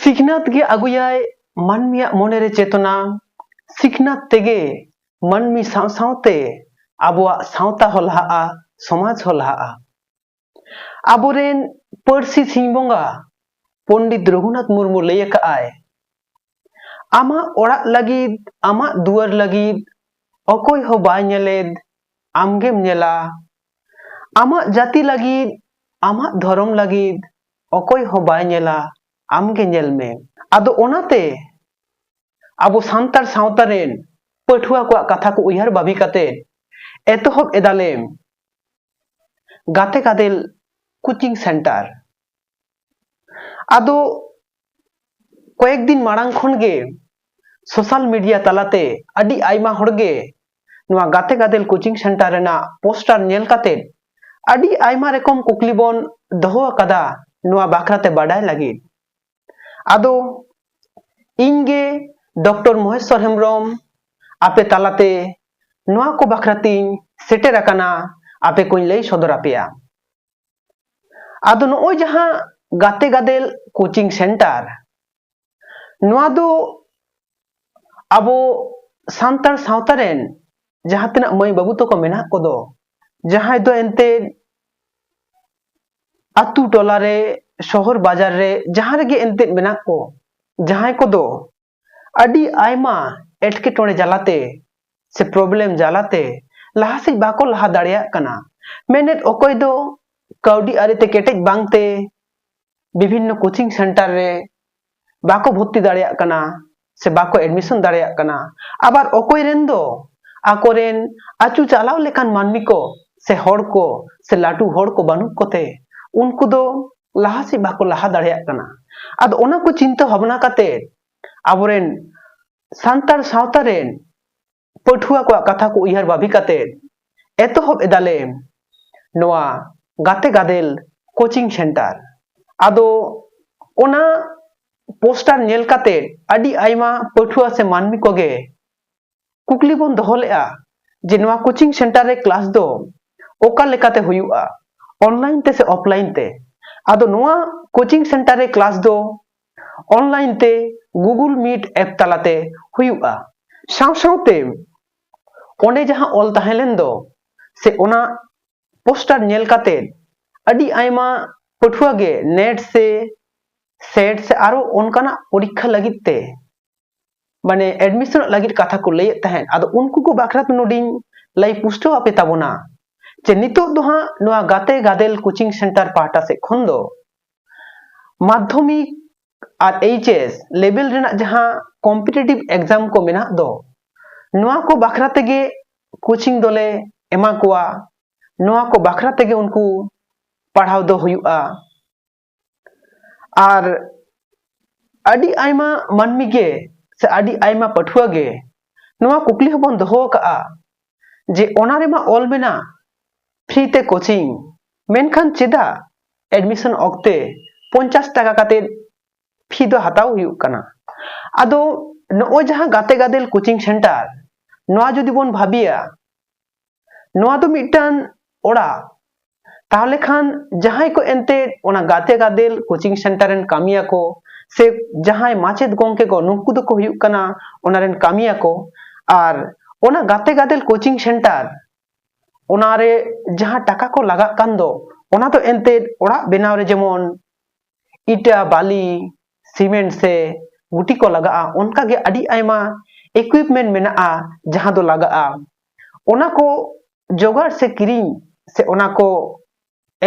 ᱥᱤᱠᱷᱱᱟᱹᱛ ᱜᱮ ᱟᱹᱜᱩᱭᱟᱭ ᱢᱟᱹᱱᱢᱤᱭᱟᱜ ᱢᱚᱱᱮ ᱨᱮ ᱪᱮᱛᱱᱟ ᱥᱤᱠᱷᱱᱟᱹᱛ ᱛᱮᱜᱮ ᱢᱟᱹᱱᱢᱤ ᱥᱟᱶ ᱥᱟᱶᱛᱮ ᱟᱵᱚᱣᱟᱜ ᱥᱟᱶᱛᱟ ᱦᱚᱸ ᱞᱟᱦᱟᱜᱼᱟ ᱥᱚᱢᱟᱡᱽ ᱦᱚᱸ ᱞᱟᱦᱟᱜᱼᱟ ᱟᱵᱚᱨᱮᱱ ᱯᱟᱹᱨᱥᱤ ᱥᱤᱧ ᱵᱚᱸᱜᱟ ᱯᱚᱱᱰᱤᱛ ᱨᱚᱜᱷᱩᱱᱟᱛᱷ ᱢᱩᱨᱢᱩ ᱞᱟᱹᱭ ᱟᱠᱟᱫ ᱟᱭ ᱟᱢᱟᱜ ᱚᱲᱟᱜ ᱞᱟᱹᱜᱤᱫ ᱟᱢᱟᱜ ᱫᱩᱣᱟᱹᱨ ᱞᱟᱹᱜᱤᱫ ᱚᱠᱚᱭ ᱦᱚᱸ ᱵᱟᱭ ᱧᱮᱞᱮᱫ ᱟᱢᱜᱮᱢ ᱧᱮᱞᱟ ᱟᱢᱟᱜ ᱡᱟᱹᱛᱤ ᱞᱟᱹᱜᱤᱫ ᱟᱢᱟᱜ ᱫᱷᱚᱨᱚᱢ ᱞᱟᱹᱜᱤᱫ ᱚᱠᱚᱭ ᱦᱚᱸ ᱵᱟᱭ ᱧᱮᱞᱟ ᱟᱢ ᱜᱮ ᱧᱮᱞ ᱢᱮ ᱟᱫᱚ ᱚᱱᱟᱛᱮ ᱟᱵᱚ ᱥᱟᱱᱛᱟᱲ ᱥᱟᱶᱛᱟ ᱨᱮᱱ ᱯᱟᱹᱴᱷᱩᱣᱟᱹ ᱠᱚᱣᱟᱜ ᱠᱟᱛᱷᱟ ᱠᱚ ᱩᱭᱦᱟᱹᱨ ᱵᱷᱟᱵᱤ ᱠᱟᱛᱮ ᱮᱛᱚᱦᱚᱵ ᱮᱫᱟᱞᱮ ᱜᱟᱛᱮ ᱜᱟᱫᱮᱞ ᱠᱳᱪᱤᱝ ᱥᱮᱱᱴᱟᱨ ᱟᱫᱚ ᱠᱚᱭᱮᱠ ᱫᱤᱱ ᱢᱟᱲᱟᱝ ᱠᱷᱚᱱ ᱜᱮ social media ᱛᱟᱞᱟᱛᱮ ᱟᱹᱰᱤ ᱟᱭᱢᱟ ᱦᱚᱲ ᱜᱮ ᱱᱚᱣᱟ ᱜᱟᱛᱮ ᱜᱟᱫᱮᱞ coaching centre ᱨᱮᱱᱟᱜ poster ᱧᱮᱞ ᱠᱟᱛᱮ ᱟᱹᱰᱤ ᱟᱭᱢᱟ ᱨᱚᱠᱚᱢ ᱠᱩᱠᱞᱤ ᱵᱚᱱ ᱫᱚᱦᱚ ᱟᱠᱟᱫᱟ ᱱᱚᱣᱟ ᱵᱟᱠᱷᱨᱟ ᱛᱮ ᱵᱟᱰᱟᱭ ᱞᱟᱹᱜᱤᱫ ᱟᱫᱚ ᱤᱧ ᱜᱮ ᱰᱚᱠᱴᱚᱨ ᱢᱚᱦᱮᱥᱣᱚᱨ ᱦᱮᱢᱵᱨᱚᱢ ᱟᱯᱮ ᱛᱟᱞᱟᱛᱮ ᱱᱚᱣᱟ ᱠᱚ ᱵᱟᱠᱷᱨᱟ ᱛᱤᱧ ᱥᱮᱴᱮᱨ ᱟᱠᱟᱱᱟ ᱟᱯᱮ ᱠᱚᱧ ᱞᱟᱹᱭ ᱥᱚᱫᱚᱨ ᱟᱯᱮᱭᱟ ᱟᱫᱚ ᱱᱚᱜᱼᱚᱭ ᱡᱟᱦᱟᱸ ᱜᱟᱛᱮ ᱜᱟᱫᱮᱞ ᱠᱳᱪᱤᱝ ᱥᱮᱱᱴᱟᱨ ᱱᱚᱣᱟ ᱫᱚ ᱟᱵᱚ ᱥᱟᱱᱛᱟᱲ ᱥᱟᱶᱛᱟ ᱨᱮᱱ ᱡᱟᱦᱟᱸ ᱛᱤᱱᱟᱹᱜ ᱢᱟᱹᱭ ᱵᱟᱹᱵᱩ ᱛᱟᱠᱚ ᱢᱮᱱᱟᱜ ᱠᱚᱫᱚ ᱡᱟᱦᱟᱸᱭ ᱫᱚ ᱮᱱᱛᱮᱫ ᱟᱛᱳ ᱴᱚᱞᱟ ᱨᱮ ᱥᱚᱦᱚᱨ ᱵᱟᱡᱟᱨ ᱨᱮ ᱡᱟᱦᱟᱸ ᱨᱮᱜᱮ ᱮᱱᱛᱮᱫ ᱢᱮᱱᱟᱜ ᱠᱚ ᱡᱟᱦᱟᱸᱭ ᱠᱚᱫᱚ ᱟᱹᱰᱤ ᱟᱭᱢᱟ ᱮᱴᱠᱮᱴᱚᱬᱮ ᱡᱟᱞᱟᱛᱮ ᱥᱮ ᱯᱨᱚᱵᱞᱮᱢ ᱡᱟᱞᱟᱛᱮ ᱞᱟᱦᱟ ᱥᱮᱫ ᱵᱟᱠᱚ ᱞᱟᱦᱟ ᱫᱟᱲᱮᱭᱟᱜ ᱠᱟᱱᱟ ᱢᱮᱱᱮᱫ ᱚᱠᱚᱭ ᱫᱚ ᱠᱟᱹᱣᱰᱤ ᱟᱹᱨᱤᱛᱮ ᱠᱮᱴᱮᱡ ᱵᱟᱝᱛᱮ ᱵᱤᱵᱷᱤᱱᱱᱚ ᱠᱳᱪᱤᱝ ᱥᱮᱱᱴᱟᱨ ᱨᱮ ᱵᱟᱠᱚ ᱵᱷᱚᱨᱛᱤ ᱫᱟᱲᱮᱭᱟᱜ ᱠᱟᱱᱟ ᱥᱮ ᱵᱟᱠᱚ ᱮᱰᱢᱤᱥᱚᱱ ᱫᱟᱲᱮᱭᱟᱜ ᱠᱟᱱᱟ ᱟᱵᱟᱨ ᱚᱠᱚᱭ ᱨᱮᱱ ᱫᱚ ᱟᱠᱚᱨᱮᱱ ᱟᱹᱪᱩ ᱪᱟᱞᱟᱣ ᱞᱮᱠᱟᱱ ᱢᱟᱹᱱᱢᱤ ᱠᱚ ᱥᱮ ᱦᱚᱲ ᱠᱚ ᱥᱮ ᱞᱟᱹᱴᱩ ᱦᱚᱲ ᱠᱚ ᱵᱟᱹᱱᱩᱜ ᱠᱚᱛᱮ ᱩᱱᱠᱩ ᱫᱚ ᱞᱟᱦᱟ ᱥᱮᱫ ᱵᱟᱠᱚ ᱞᱟᱦᱟ ᱫᱟᱲᱮᱭᱟᱜ ᱠᱟᱱᱟ ᱟᱫᱚ ᱚᱱᱟ ᱠᱚ ᱪᱤᱱᱛᱟᱹ ᱵᱷᱟᱵᱽᱱᱟ ᱠᱟᱛᱮ ᱟᱵᱚᱨᱮᱱ ᱥᱟᱱᱛᱟᱲ ᱥᱟᱶᱛᱟ ᱨᱮᱱ ᱯᱟᱹᱴᱷᱩᱣᱟᱹ ᱠᱚᱣᱟᱜ ᱠᱟᱛᱷᱟ ᱠᱚ ᱩᱭᱦᱟᱹᱨ ᱵᱷᱟᱵᱤ ᱠᱟᱛᱮ ᱮᱛᱚᱦᱚᱵ ᱮᱫᱟᱞᱮ ᱱᱚᱣᱟ ᱜᱟᱛᱮ ᱜᱟᱫᱮᱞ ᱠᱳᱪᱤᱝ ᱥᱮᱱᱴᱟᱨ ᱟᱫᱚ ᱚᱱᱟ ᱯᱳᱥᱴᱟᱨ ᱧᱮᱞ ᱠᱟᱛᱮ ᱟᱹᱰᱤ ᱟᱭᱢᱟ ᱯᱟᱹᱴᱷᱩᱣᱟᱹ ᱥᱮ ᱢᱟᱹᱱᱢᱤ ᱠᱚᱜᱮ ᱠᱩᱠᱞᱤ ᱵᱚᱱ ᱫᱚᱦᱚ ᱞᱮᱫᱼᱟ ᱡᱮ ᱱᱚᱣᱟ ᱠᱳᱪᱤᱝ ᱥᱮᱱᱴᱟᱨ ᱨᱮ ᱠᱞᱟᱥ ᱫᱚ ᱚᱠᱟ ᱞᱮᱠᱟᱛᱮ ᱦᱩᱭᱩᱜᱼᱟ ᱚᱱᱞᱟᱭᱤᱱ ᱛᱮ ᱥᱮ ᱚᱯᱷᱞᱟᱭᱤᱱ ᱛᱮ ᱟᱫᱚ ᱱᱚᱣᱟ ᱠᱳᱪᱤᱝ ᱥᱮᱱᱴᱟᱨ ᱨᱮ ᱠᱞᱟᱥ ᱫᱚ ᱚᱱᱞᱟᱭᱤᱱ ᱛᱮ ᱜᱩᱜᱩᱞ ᱢᱤᱴ ᱮᱯ ᱛᱟᱞᱟᱛᱮ ᱦᱩᱭᱩᱜᱼᱟ ᱥᱟᱶ ᱥᱟᱶᱛᱮ ᱚᱸᱰᱮ ᱡᱟᱦᱟᱸ ᱚᱞ ᱛᱟᱦᱮᱸ ᱞᱮᱱ ᱫᱚ ᱥᱮ ᱚᱱᱟ ᱯᱳᱥᱴᱟᱨ ᱧᱮᱞ ᱠᱟᱛᱮ ᱟᱹᱰᱤ ᱟᱭᱢᱟ ᱯᱟᱹᱴᱷᱩᱣᱟᱹ ᱜᱮ ᱱᱮᱴ ᱥᱮ ᱥᱮᱴ ᱥᱮ ᱟᱨᱚ ᱚᱱᱠᱟᱱᱟᱜ ᱯᱚᱨᱤᱠᱠᱷᱟ ᱞᱟᱹᱜᱤᱫ ᱛᱮ ᱢᱟᱱᱮ admission ᱚᱜ ᱞᱟᱹᱜᱤᱫ ᱠᱟᱛᱷᱟ ᱠᱚ ᱞᱟᱹᱭᱮᱫ ᱛᱟᱦᱮᱸᱫ ᱟᱫᱚ ᱩᱱᱠᱩ ᱠᱚ ᱵᱟᱠᱷᱨᱟ ᱛᱮ ᱱᱚᱰᱮᱧ ᱞᱟᱹᱭ ᱯᱩᱥᱴᱟᱹᱣ ᱟᱯᱮ ᱛᱟᱵᱚᱱᱟ ᱡᱮ ᱱᱤᱛᱚᱜ ᱫᱚ ᱦᱟᱸᱜ ᱱᱚᱣᱟ ᱜᱟᱛᱮ ᱜᱟᱫᱮᱞ coaching centre ᱯᱟᱦᱴᱟ ᱥᱮᱫ ᱠᱷᱚᱱ ᱫᱚ ᱢᱟᱫᱽᱫᱷᱚᱢᱤᱠ ᱟᱨ HS level ᱨᱮᱱᱟᱜ ᱡᱟᱦᱟᱸ competitive exam ᱠᱚ ᱢᱮᱱᱟᱜ ᱫᱚ ᱱᱚᱣᱟ ᱠᱚ ᱵᱟᱠᱷᱨᱟ ᱛᱮᱜᱮ coaching ᱫᱚᱞᱮ ᱮᱢᱟ ᱠᱚᱣᱟ ᱱᱚᱣᱟ ᱠᱚ ᱵᱟᱠᱷᱨᱟ ᱛᱮᱜᱮ ᱩᱱᱠᱩ ᱯᱟᱲᱦᱟᱣ ᱫᱚ ᱦᱩᱭᱩᱜᱼᱟ ᱟᱨ ᱟᱹᱰᱤ ᱟᱭᱢᱟ ᱢᱟᱹᱱᱢᱤ ᱜᱮ ᱥᱮ ᱟᱹᱰᱤ ᱟᱭᱢᱟ ᱯᱟᱹᱴᱷᱩᱣᱟᱹ ᱜᱮ ᱱᱚᱣᱟ ᱠᱩᱠᱞᱤ ᱦᱚᱸᱵᱚᱱ ᱫᱚᱦᱚ ᱟᱠᱟᱫᱼᱟ ᱡᱮ ᱚᱱᱟ ᱨᱮᱢᱟ ᱚᱞ ᱢᱮᱱᱟᱜ ᱯᱷᱨᱤ ᱛᱮ ᱠᱳᱪᱤᱝ ᱢᱮᱱᱠᱷᱟᱱ ᱪᱮᱫᱟᱜ ᱮᱰᱢᱤᱥᱚᱱ ᱚᱠᱛᱮ ᱯᱚᱧᱪᱟᱥ ᱴᱟᱠᱟ ᱠᱟᱛᱮᱫ ᱯᱷᱤ ᱫᱚ ᱦᱟᱛᱟᱣ ᱦᱩᱭᱩᱜ ᱠᱟᱱᱟ ᱟᱫᱚ ᱱᱚᱜᱼᱚᱭ ᱡᱟᱦᱟᱸ ᱜᱟᱛᱮ ᱜᱟᱫᱮᱞ ᱠᱳᱪᱤᱝ ᱥᱮᱱᱴᱟᱨ ᱱᱚᱣᱟ ᱡᱩᱫᱤ ᱵᱚᱱ ᱵᱷᱟᱹᱵᱤᱭᱟ ᱱᱚᱣᱟ ᱫᱚ ᱢᱤᱫᱴᱟᱝ ᱚᱲᱟᱜ ᱛᱟᱦᱚᱞᱮ ᱠᱷᱟᱱ ᱡᱟᱦᱟᱸᱭ ᱠᱚ ᱮᱱᱛᱮᱫ ᱚᱱᱟ ᱜᱟᱛᱮ ᱜᱟᱫᱮᱞ ᱠᱳᱪᱤᱝ ᱥᱮᱱᱴᱟᱨ ᱨᱮᱱ ᱠᱟᱹᱢᱤᱭᱟ ᱠᱚ ᱥᱮ ᱡᱟᱦᱟᱸᱭ ᱢᱟᱪᱮᱫ ᱜᱚᱢᱠᱮ ᱠᱚ ᱱᱩᱠᱩ ᱫᱚᱠᱚ ᱦᱩᱭᱩᱜ ᱠᱟᱱᱟ ᱚᱱᱟ ᱨᱮᱱ ᱠᱟᱹᱢᱤᱭᱟ ᱠᱚ ᱟᱨ ᱚᱱᱟ ᱜᱟᱛᱮ ᱜᱟᱫᱮᱞ ᱠᱳᱪᱤᱝ ᱥᱮᱱᱴᱟᱨ ᱚᱱᱟᱨᱮ ᱡᱟᱦᱟᱸ ᱴᱟᱠᱟ ᱠᱚ ᱞᱟᱜᱟᱜ ᱠᱟᱱ ᱫᱚ ᱚᱱᱟ ᱫᱚ ᱮᱱᱛᱮᱫ ᱚᱲᱟᱜ ᱵᱮᱱᱟᱣ ᱨᱮ ᱡᱮᱢᱚᱱ ᱤᱴᱟᱹ ᱵᱟᱞᱤ ᱥᱤᱢᱮᱱᱴ ᱥᱮ ᱜᱩᱴᱤ ᱠᱚ ᱞᱟᱜᱟᱜᱼᱟ ᱚᱱᱠᱟ ᱜᱮ ᱟᱹᱰᱤ ᱟᱭᱢᱟ equipment ᱢᱮᱱᱟᱜᱼᱟ ᱡᱟᱦᱟᱸ ᱫᱚ ᱞᱟᱜᱟᱜᱼᱟ ᱚᱱᱟ ᱠᱚ ᱡᱚᱜᱟᱲ ᱥᱮ ᱠᱤᱨᱤᱧ ᱥᱮ ᱚᱱᱟ ᱠᱚ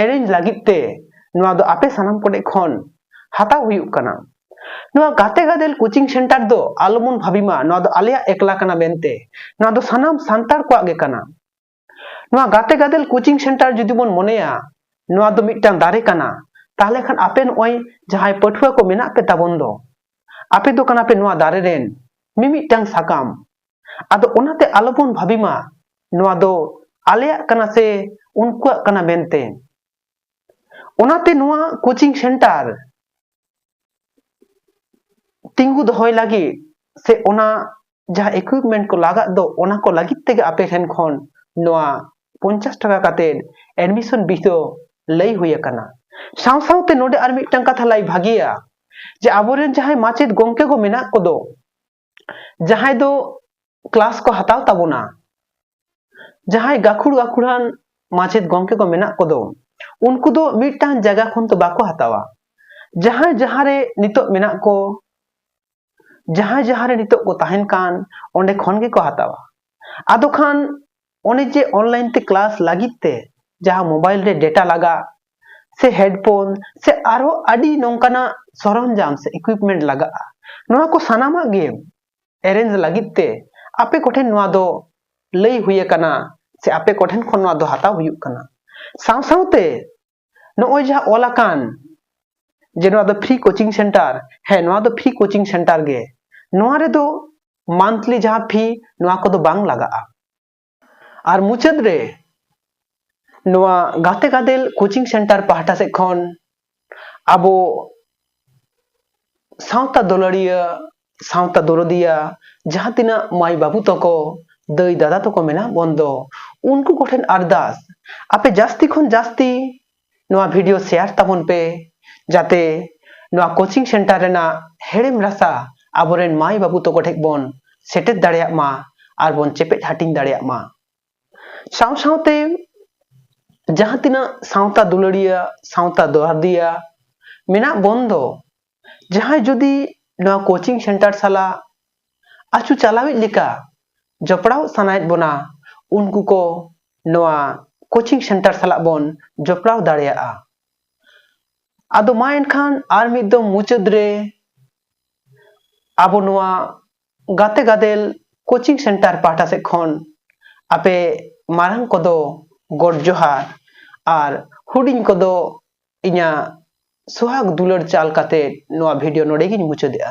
ᱮᱨᱮᱧ ᱞᱟᱹᱜᱤᱫ ᱛᱮ ᱱᱚᱣᱟ ᱫᱚ ᱟᱯᱮ ᱥᱟᱱᱟᱢ ᱠᱚ ᱴᱷᱮᱱ ᱠᱷᱚᱱ ᱦᱟᱛᱟᱣ ᱦᱩᱭᱩᱜ ᱠᱟᱱᱟ ᱱᱚᱣᱟ ᱜᱟᱛᱮ ᱜᱟᱫᱮᱞ ᱠᱳᱪᱤᱝ ᱥᱮᱱᱴᱟᱨ ᱫᱚ ᱟᱞᱚᱵᱚᱱ ᱵᱷᱟᱹᱵᱤ ᱢᱟ ᱱᱚᱣᱟ ᱫᱚ ᱟᱞᱮᱭᱟᱜ ᱮᱠᱞᱟ ᱠᱟᱱᱟ ᱢᱮᱱᱛᱮ ᱱᱚᱣᱟ ᱫᱚ ᱥᱟᱱᱟᱢ ᱥᱟᱱᱛᱟᱲ ᱠᱚᱣᱟᱜ ᱜᱮ ᱠᱟᱱᱟ ᱱᱚᱣᱟ ᱜᱟᱛᱮ ᱜᱟᱫᱮᱞ ᱠᱳᱪᱤᱝ ᱥᱮᱱᱴᱟᱨ ᱡᱩᱫᱤ ᱵᱚᱱ ᱢᱚᱱᱮᱭᱟ ᱱᱚᱣᱟ ᱫᱚ ᱢᱤᱫᱴᱟᱝ ᱫᱟᱨᱮ ᱠᱟᱱᱟ ᱛᱟᱦᱞᱮ ᱠᱷᱟᱱ ᱟᱯᱮ ᱱᱚᱜᱼᱚᱭ ᱡᱟᱦᱟᱸᱭ ᱯᱟᱹᱴᱷᱩᱣᱟᱹ ᱠᱚ ᱢᱮᱱᱟᱜ ᱯᱮ ᱛᱟᱵᱚᱱ ᱫᱚ ᱟᱯᱮ ᱫᱚ ᱠᱟᱱᱟ ᱯᱮ ᱱᱚᱣᱟ ᱫᱟᱨᱮ ᱨᱮᱱ ᱢᱤᱢᱤᱫᱴᱟᱝ ᱥᱟᱠᱟᱢ ᱟᱫᱚ ᱚᱱᱟᱛᱮ ᱟᱞᱚᱵᱚᱱ ᱵᱷᱟᱹᱵᱤ ᱢᱟ ᱱᱚᱣᱟ ᱫᱚ ᱟᱞᱮᱭᱟᱜ ᱠᱟᱱᱟ ᱥᱮ ᱩᱱᱠᱩᱣᱟᱜ ᱠᱟᱱᱟ ᱢᱮᱱᱛᱮ ᱚᱱᱟᱛᱮ ᱱᱚᱣᱟ ᱠᱳᱪᱤᱝ ᱥᱮᱱᱴᱟᱨ ᱛᱤᱸᱜᱩ ᱫᱚᱦᱚᱭ ᱞᱟᱹᱜᱤᱫ ᱥᱮ ᱚᱱᱟ ᱡᱟᱦᱟᱸ ᱮᱠᱩᱭᱤᱯᱢᱮᱱᱴ ᱠᱚ ᱞᱟᱜᱟᱜ ᱫᱚ ᱚᱱᱟ ᱠᱚ ᱞᱟᱹᱜᱤᱫ ᱛᱮᱜᱮ ᱟᱯᱮ ᱴᱷᱮᱱ ᱠᱷᱚᱱ ᱱᱚᱣᱟ ᱯᱚᱧᱪᱟᱥ ᱴᱟᱠᱟ ᱠᱟᱛᱮᱫ ᱮᱰᱢᱤᱥᱚᱱ ᱵᱤᱥ ᱫᱚ ᱞᱟᱹᱭ ᱦᱩᱭ ᱟᱠᱟᱱᱟ ᱥᱟᱶ ᱥᱟᱶᱛᱮ ᱱᱚᱰᱮ ᱟᱨ ᱢᱤᱫᱴᱟᱝ ᱠᱟᱛᱷᱟ ᱞᱟᱹᱭ ᱵᱷᱟᱜᱮᱭᱟ ᱡᱮ ᱟᱵᱚᱨᱮᱱ ᱡᱟᱦᱟᱸᱭ ᱢᱟᱪᱮᱫ ᱜᱚᱢᱠᱮ ᱠᱚ ᱢᱮᱱᱟᱜ ᱠᱚᱫᱚ ᱡᱟᱦᱟᱸᱭ ᱫᱚ ᱠᱞᱟᱥ ᱠᱚ ᱦᱟᱛᱟᱣ ᱛᱟᱵᱚᱱᱟ ᱡᱟᱦᱟᱸᱭ ᱜᱟᱹᱠᱷᱩᱲ ᱜᱟᱹᱠᱷᱩᱲᱟᱱ ᱢᱟᱪᱮᱫ ᱜᱚᱢᱠᱮ ᱠᱚ ᱢᱮᱱᱟᱜ ᱠᱚᱫᱚ ᱩᱱᱠᱩ ᱫᱚ ᱢᱤᱫᱴᱟᱝ ᱡᱟᱭᱜᱟ ᱠᱷᱚᱱ ᱫᱚ ᱵᱟᱠᱚ ᱦᱟᱛᱟᱣᱟ ᱡᱟᱦᱟᱸᱭ ᱡᱟᱦᱟᱸᱨᱮ ᱱᱤᱛᱚᱜ ᱢᱮᱱᱟᱜ ᱠᱚ ᱡᱟᱦᱟᱸᱭ ᱡᱟᱦᱟᱸᱨᱮ ᱱᱤᱛᱚᱜ ᱠᱚ ᱛᱟᱦᱮᱱ ᱠᱟᱱ ᱚᱸᱰᱮ ᱠᱷᱚᱱ ᱜᱮᱠᱚ ᱦᱟᱛᱟᱣᱟ ᱟᱫᱚ ᱠᱷᱟᱱ ᱚᱱᱮ ᱡᱮ online ᱛᱮ class ᱞᱟᱹᱜᱤᱫ ᱛᱮ ᱡᱟᱦᱟᱸ mobile ᱨᱮ data ᱞᱟᱜᱟᱜ ᱥᱮ headphone ᱥᱮ ᱟᱨᱦᱚᱸ ᱟᱹᱰᱤ ᱱᱚᱝᱠᱟᱱᱟᱜ ᱥᱚᱨᱚᱧᱡᱟᱢ ᱥᱮ equipment ᱞᱟᱜᱟᱜᱼᱟ ᱱᱚᱣᱟ ᱠᱚ ᱥᱟᱱᱟᱢᱟᱜ ᱜᱮ arrange ᱞᱟᱹᱜᱤᱫ ᱛᱮ ᱟᱯᱮ ᱠᱚᱴᱷᱮᱱ ᱱᱚᱣᱟ ᱫᱚ ᱞᱟᱹᱭ ᱦᱩᱭ ᱟᱠᱟᱱᱟ ᱥᱮ ᱟᱯᱮ ᱠᱚᱴᱷᱮᱱ ᱠᱷᱚᱱ ᱱᱚᱣᱟ ᱫᱚ ᱦᱟᱛᱟᱣ ᱦᱩᱭᱩᱜ ᱠᱟᱱᱟ ᱥᱟᱶ ᱥᱟᱶᱛᱮ ᱱᱚᱜᱼᱚᱭ ᱡᱟᱦᱟᱸ ᱚᱞ ᱟᱠᱟᱱ ᱡᱮ ᱱᱚᱣᱟ ᱫᱚ ᱯᱷᱨᱤ ᱠᱳᱪᱤᱝ ᱥᱮᱱᱴᱟᱨ ᱦᱮᱸ ᱱᱚᱣᱟ ᱫᱚ ᱯᱷᱨᱤ ᱠᱳᱪᱤᱝ ᱥᱮᱱᱴᱟᱨ ᱜᱮ ᱱᱚᱣᱟ ᱨᱮᱫᱚ ᱢᱟᱱᱛᱷᱞᱤ ᱡᱟᱦᱟᱸ ᱯᱷᱤ ᱱᱚᱣᱟ ᱠᱚᱫᱚ ᱵᱟᱝ ᱞᱟᱜᱟᱜᱼᱟ ᱟᱨ ᱢᱩᱪᱟᱹᱫ ᱨᱮ ᱱᱚᱣᱟ ᱜᱟᱛᱮ ᱜᱟᱫᱮᱞ ᱠᱳᱪᱤᱝ ᱥᱮᱱᱴᱟᱨ ᱯᱟᱦᱴᱟ ᱥᱮᱫ ᱠᱷᱚᱱ ᱟᱵᱚ ᱥᱟᱶᱛᱟ ᱫᱩᱞᱟᱹᱲᱤᱭᱟᱹ ᱥᱟᱶᱛᱟ ᱫᱚᱨᱚᱫᱤᱭᱟ ᱡᱟᱦᱟᱸ ᱛᱤᱱᱟᱹᱜ ᱢᱟᱹᱭ ᱵᱟᱹᱵᱩ ᱛᱟᱠᱚ ᱫᱟᱹᱭ ᱫᱟᱫᱟ ᱛᱟᱠᱚ ᱢᱮᱱᱟᱜ ᱵᱚᱱ ᱫᱚ ᱩᱱᱠᱩ ᱠᱚᱴᱷᱮᱱ ᱟᱨᱫᱟᱥ ᱟᱯᱮ ᱡᱟᱹᱥᱛᱤ ᱠᱷᱚᱱ ᱡᱟᱹᱥᱛᱤ ᱱᱚᱣᱟ ᱵᱷᱤᱰᱤᱭᱳ ᱥᱮᱭᱟᱨ ᱛᱟᱵᱚᱱ ᱯᱮ ᱡᱟᱛᱮ ᱱᱚᱣᱟ ᱠᱳᱪᱤᱝ ᱥᱮᱱᱴᱟᱨ ᱨᱮᱱᱟᱜ ᱦᱮᱲᱮᱢ ᱨᱟᱥᱟ ᱟᱵᱚᱨᱮᱱ ᱢᱟᱹᱭ ᱵᱟᱹᱵᱩ ᱛᱟᱠᱚ ᱴᱷᱮᱱ ᱵᱚᱱ ᱥᱮᱴᱮᱨ ᱫᱟᱲᱮᱭᱟᱜ ᱢᱟ ᱟᱨ ᱵᱚᱱ ᱪᱮᱯᱮᱫ ᱦᱟᱹᱴᱤᱧ ᱫᱟᱲᱮᱭᱟᱜ ᱢᱟ ᱥᱟᱶ ᱥᱟᱶᱛᱮ ᱡᱟᱦᱟᱸ ᱛᱤᱱᱟᱹᱜ ᱥᱟᱶᱛᱟ ᱫᱩᱞᱟᱹᱲᱤᱭᱟᱹ ᱥᱟᱶᱛᱟ ᱫᱚᱦᱟᱨᱫᱤᱭᱟ ᱢᱮᱱᱟᱜ ᱵᱚᱱ ᱫᱚ ᱡᱟᱦᱟᱸᱭ ᱡᱩᱫᱤ ᱱᱚᱣᱟ ᱠᱳᱪᱤᱝ ᱥᱮᱱᱴᱟᱨ ᱥᱟᱞᱟᱜ ᱟᱹᱪᱩ ᱪᱟᱞᱟᱣᱤᱡ ᱞᱮᱠᱟ ᱡᱚᱯᱲᱟᱣ ᱥᱟᱱᱟᱭᱮᱫ ᱵᱚᱱᱟ ᱩᱱᱠᱩ ᱠᱚ ᱱᱚᱣᱟ ᱠᱳᱪᱤᱝ ᱥᱮᱱᱴᱟᱨ ᱥᱟᱞᱟᱜ ᱵᱚᱱ ᱡᱚᱯᱲᱟᱣ ᱫᱟᱲᱮᱭᱟᱜᱼᱟ ᱟᱫᱚ ᱢᱟ ᱮᱱᱠᱷᱟᱱ ᱟᱨ ᱢᱤᱫ ᱫᱚᱢ ᱢᱩᱪᱟᱹᱫ ᱨᱮ ᱟᱵᱚ ᱱᱚᱣᱟ ᱜᱟᱛᱮ ᱜᱟᱫᱮᱞ ᱠᱳᱪᱤᱝ ᱥᱮᱱᱴᱟᱨ ᱯᱟᱦᱴᱟ ᱥᱮᱫ ᱠᱷᱚᱱ ᱟᱯᱮ ᱢᱟᱨᱟᱝ ᱠᱚᱫᱚ ᱜᱚᱰ ᱡᱚᱦᱟᱨ ᱟᱨ ᱦᱩᱰᱤᱧ ᱠᱚᱫᱚ ᱤᱧᱟᱹᱜ ᱥᱚᱦᱟᱜᱽ ᱫᱩᱞᱟᱹᱲ ᱪᱟᱞ ᱠᱟᱛᱮ ᱱᱚᱣᱟ ᱵᱷᱤᱰᱤᱭᱳ ᱱᱚᱰᱮ ᱜᱤᱧ ᱢᱩᱪᱟᱹᱫᱮᱜᱼᱟ᱾